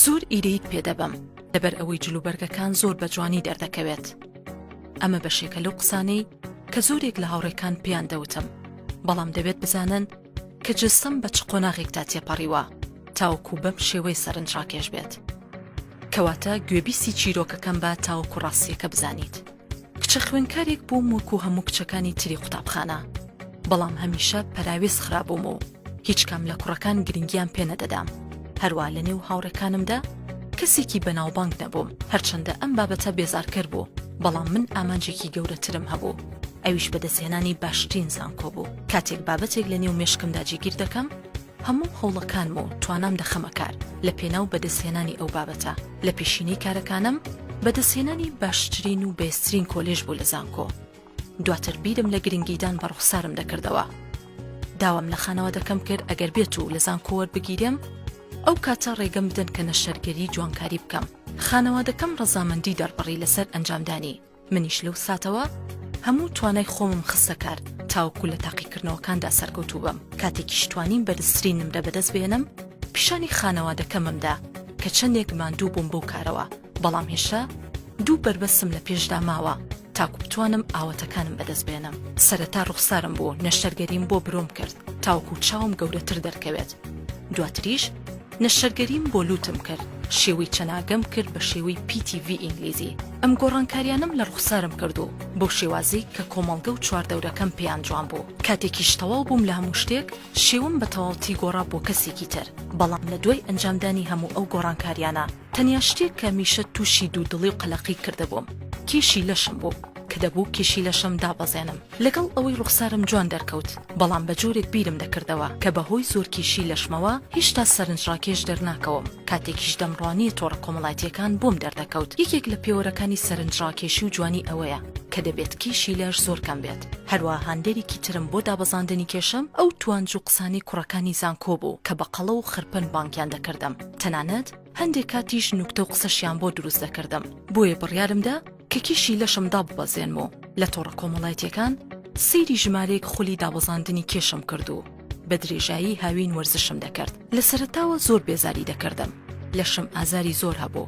زۆر ئیرەییت پێ دەبەم لەبەر ئەوەی جلوبەرگەکان زۆر بە جوانی دەردەکەوێت ئەمە بەشێکە لەو قسانەی کە زۆرێک لە هاوڕێکان پێیان دەوتم بەڵام دەبێت بزانن کە جستم بە چ قۆناغێکدا تێپەڕیوە تاوەکو بەم شێوەی سەرنج ڕاکێش بێت کەواتە گوێبیستی چیرۆکەکەم بە تاوەکو ڕاستیەکە بزانیت. کچە خوێنکارێک بووم وەکو هەموو کچەکانی تری قوتابخانە بەڵام هەمیشە پەراوێز خرابووم و هیچ کام لە کوڕەکان گرنگیان پێنەدەدام هەروە لە نێو هاوڕەکانمدا کەسێکی بەناوبانگ نەبووم هەرچەندە ئەم بابەتە بێزارکەر بوو بەڵام من ئامانجێکی گەورەترم هەبوو ئەویش بەدەستهێنانی باشترین زانکۆ بوو کاتێک بابەتێک لە نێو مشکمدا جیگیر دەکەم هەموو هەوڵەکانم و توانام دەخەمە کار لە پێناو بەدەستهێنانی ئەو بابەتە، لە پێشینەی کارەکانم بەدەستهێنانی باشترین و بەێزترین کۆلێژ بوو لە زانکۆ، دواتر بیرم لە گرنگیدان بە ڕوخسارم دەکردەوە، داوام لە خانەوادەکەم کرد ئەگەر بێت و لە زانکۆ وەربگیرێم ئەو کاتە ڕێگەم بدەن کە نەشتەرگەری جوانکاری بکەم، خانەوادەکەم ڕەزامەندی دەربڕی لەسەر ئەنجامدانی. منیش لەو ساتەوە هەموو توانای خۆمم خستە کار تاوەکو لە تاقیکردنەوەکاندا سەرکەوتوو بم کاتێکیش توانیم بەرزترین نمرە بەدەست بێنم پیشانی خانەوادەکەمم دا کە چەندێک ماندوو بووم بەو کارەوە بەڵام هێشتا دوو بەربەسم لە پێشدا ماوە تاکو بتوانم ئاوەتەکانم بەدەست بێنم سەرەتا ڕوخسارم بوو نەشتەرگەریم بۆ برۆم کرد تاوەکو چاوم گەورەتر دەرکەوێت دواتریش نەشتەرگەریم بۆ لووتم کرد، شێوەی چەناگەم کرد بە شێوەی پی تی ڤی ئینگلیزی، ئەم گۆڕانکاریانەم لە ڕوخسارم کرد و بەو شێوازەی کە کۆمەڵگە و چواردەورەکەم پێیان جوان بوو. کاتێکیش تەواو بووم لە هەموو شتێک، شێوەم بە تەواوتی گۆڕا بۆ کەسێکی تر، بەڵام لە دوای ئەنجامدانی هەموو ئەو گۆڕانکاریانە، تەنیا شتێک کە میشە تووشی دوودڵی و قەلەقی کردبووم کیشی لەشم بوو کە دەبوو کیشی لەشم دابەزێنم لەگەڵ ئەوەی ڕوخسارم جوان دەرکەوت بەڵام بە جۆرێک بیرم دەکردەوە کە بە هۆی زۆر کیشی لەشمەوە هێشتا سەرنجڕاکێش دەرناکەوم کاتێکیش دەمڕوانیە تۆڕە کۆمەڵاتیەکان بۆم دەردەکەوت یەکێک لە پێوەرەکانی سەرنجڕاکێشی و جوانی ئەوەیە کە دەبێت کیشی لەش زۆر کەم بێت هەروە هاندەرێکی ترم بۆ دابەزاندنی کێشم ئەو توانج و قسانی کوڕەکانی زانکۆ بوو کە بە قەڵە و خرپن بانگیان دەکردم تەنانەت هەندێک کاتیش نوکتە و قسەشیان بۆ دروست دەکردم بۆیە بڕیارم دا کە کیشی لەشم داببەزێنم و لە تۆڕە کۆمەڵایەتیەکان سەیری ژمارەیەک خولی دابەزاندنی کێشم کرد و بە درێژایی هاوین وەرزشم دەکرد لە سەرەتاوە زۆر بێزاری دەکردم لەشم ئازاری زۆر هەبوو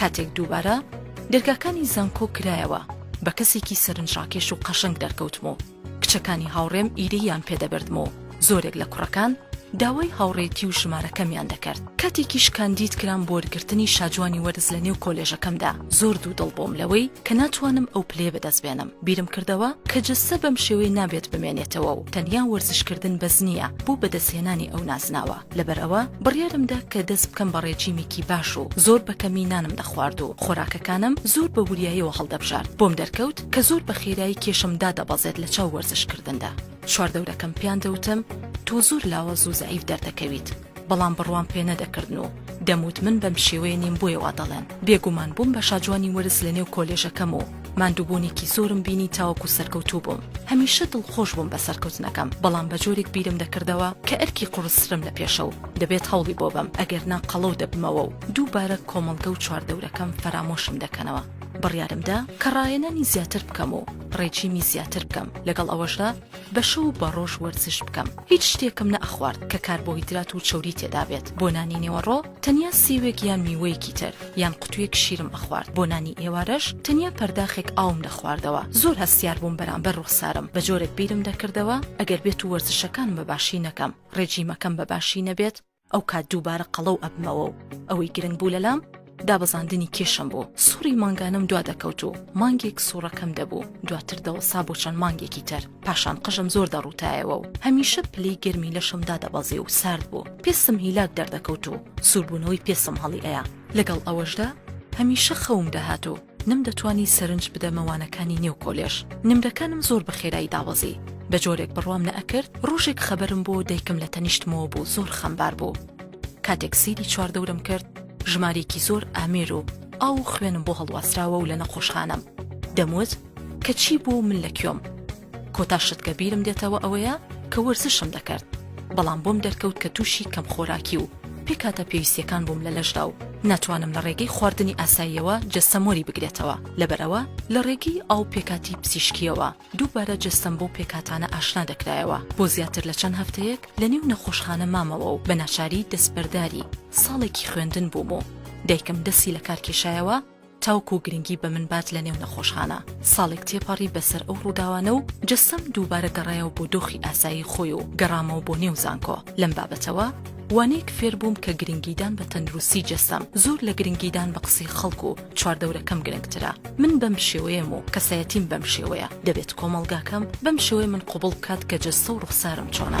کاتێک دووبارە دەرگاکانی زانکۆ کرایەوە، بە کەسێکی سەرنجڕاکێش و قەشەنگ دەرکەوتم و کچەکانی هاوڕێم ئیرەییان پێ دەبردم و زۆرێک لە کوڕەکان داوای هاوڕێتی و ژمارەکەمیان دەکرد. کاتێکیش کاندید کرام بۆ وەرگرتنی شاجوانی وەرز لە نێو کۆلێژەکەمدا، زۆر دوودڵ بووم لەوەی کە ناتوانم ئەو پلەیە بەدەست بێنم. بیرم کردەوە کە جەستە بەم شێوەیە نابێت بمێنێتەوە و تەنیا وەرزشکردن بەس نییە بۆ بەدەستهێنانی ئەو نازناوە. لەبەر ئەوە بڕیارم دا کە دەست بکەم بە ڕێجیمێکی باش و زۆر بە کەمی نانم دەخوارد و خۆراکەکانم زۆر بە وریایەوە هەڵدەبژارد، بۆم دەرکەوت کە زۆر بە خێرایی کێشم دادەبەزێت لە چاو وەرزشکردندا. چواردەورەکەم پێیان دەوتم تۆ زۆر لاواز و زەعیف دەردەکەویت، بەڵام بڕوام پێ نەدەکردن و دەموت من بەم شێوەیە نیم بۆیە وا دەڵێن، بێگومان بووم بە شاجوانی وەرز لەنێو کۆلێژەکەم و، ماندووبوونێکی زۆرم بینی تاوەکو سەرکەوتوو بووم، هەمیشە دڵخۆش بووم بە سەرکەوتنەکەم، بەڵام بە جۆرێک بیرم دەکردەوە کە ئەرکی قوڕسترم لە پێشە و دەبێت هەوڵی بۆ بەم، ئەگەرنا قەڵەو دەبمەوە و دووبارە کۆمەڵگە و چواردەورەکەم فەرامۆشم دەکەنەوە. بڕیارم دا کە ڕاهێنانی زیاتر بکەم و ڕێجیمی زیاتر بکەم، لەگەڵ ئەوەشدا، بە شەو و بە ڕۆژ وەرزش بکەم هیچ شتێکم نە ئەخوارد کە کاربۆهیدرات و چەوری تێدا بێت بۆ نانی نێوەڕۆ تەنیا سێوێک یان میوەیەکی تر یان قوتوویەک شیرم ئەخوارد بۆ نانی ئێوارەش تەنیا پەرداخێک ئاوم دەخواردەوە زۆر هەستیار بووم بەرامبەر ڕوخسارم بە جۆرێک بیرم دەکردەوە ئەگەر بێتوو وەرزشەکانم بە باشی نەکەم ڕێجیمەکەم بە باشی نەبێت ئەو کات دووبارە قەڵەو ئەبمەوە و ئەوەی گرنگ بوو لەلام دابەزاندنی کێشم بوو سوڕی مانگانەم دوا دەکەوت و مانگێک سوڕەکەم دەبوو دواتر دەوەسا بۆ چەند مانگێکی تر پاشان قژم زۆر دەڕوتایەوە و هەمیشە پلەی گەرمی لەشم دادەبەزێ و سارد بوو پێسم هیلاک دەردەکەوت و سووربوونەوەی پێسم هەڵی ئەیا لەگەڵ ئەوەشدا هەمیشە خەوم دەهات و نەمدەتوانی سەرنج بدەمە وانەکانی نێو کۆلێژ. نمرەکانم زۆر بە خێرایی دابەزی. بە جۆرێک بڕوام نەئەکرد، ڕۆژێک خەبەرم بۆ دایکم لە تەنیشتمەوە بوو زۆر خەمبار بوو. کاتێک سەیری چواردەورم کرد، ژمارەیەکی زۆر ئامێر و ئاو و خوێنم بۆ هەڵواسراوە و لە نەخۆشخانەم. دەموت کە چی بوو و من لە کوێم؟ کۆتا شت کە بیرم دێتەوە ئەوەیە کە وەرزشم دەکرد بەڵام بۆم دەرکەوت کە تووشی کەم خۆراکی و پێکاتە پێویستیەکان بووم لە لەشدا و ناتوانم لە ڕێگەی خواردنی ئاساییەوە جەستەم وەری بگرێتەوە لەبەرەوە لە ڕێگەی ئاو پێکاتی پزیشکیەوە دووبارە جەستەم بەو پێکاتانە ئاشنا دەکرایەوە بۆ زیاتر لە چەند هەفتەیەک لە نێو نەخۆشخانە مامەوە و بە ناچاری دەستبەرداری ساڵێکی خوێندن بووم و دایکم دەستی لە کار کێشایەوە تاوکو گرنگی بە من بات لە نێو نەخۆشخانە. ساڵێک تێپەڕی بەسەر ئەو ڕووداوانە و جەستەم دووبارە گەڕایەوە بۆ دۆخی ئاسایی خۆی و گەڕامەوە بۆ نێو زانکۆ. لەم بابەتەوە وانەیەک فێر بووم کە گرنگیدان بە تەندروستی جەستەم زۆر لە گرنگیدان بە قسەی خەڵک و چواردەورەکەم گرنگترە. من بەم شێوەیەم و کەسایەتیم بەم شێوەیە. دەبێت کۆمەڵگاکەم بەم شێوەیە من قبوڵ بکات کە جەستە و ڕوخسارم چۆنە.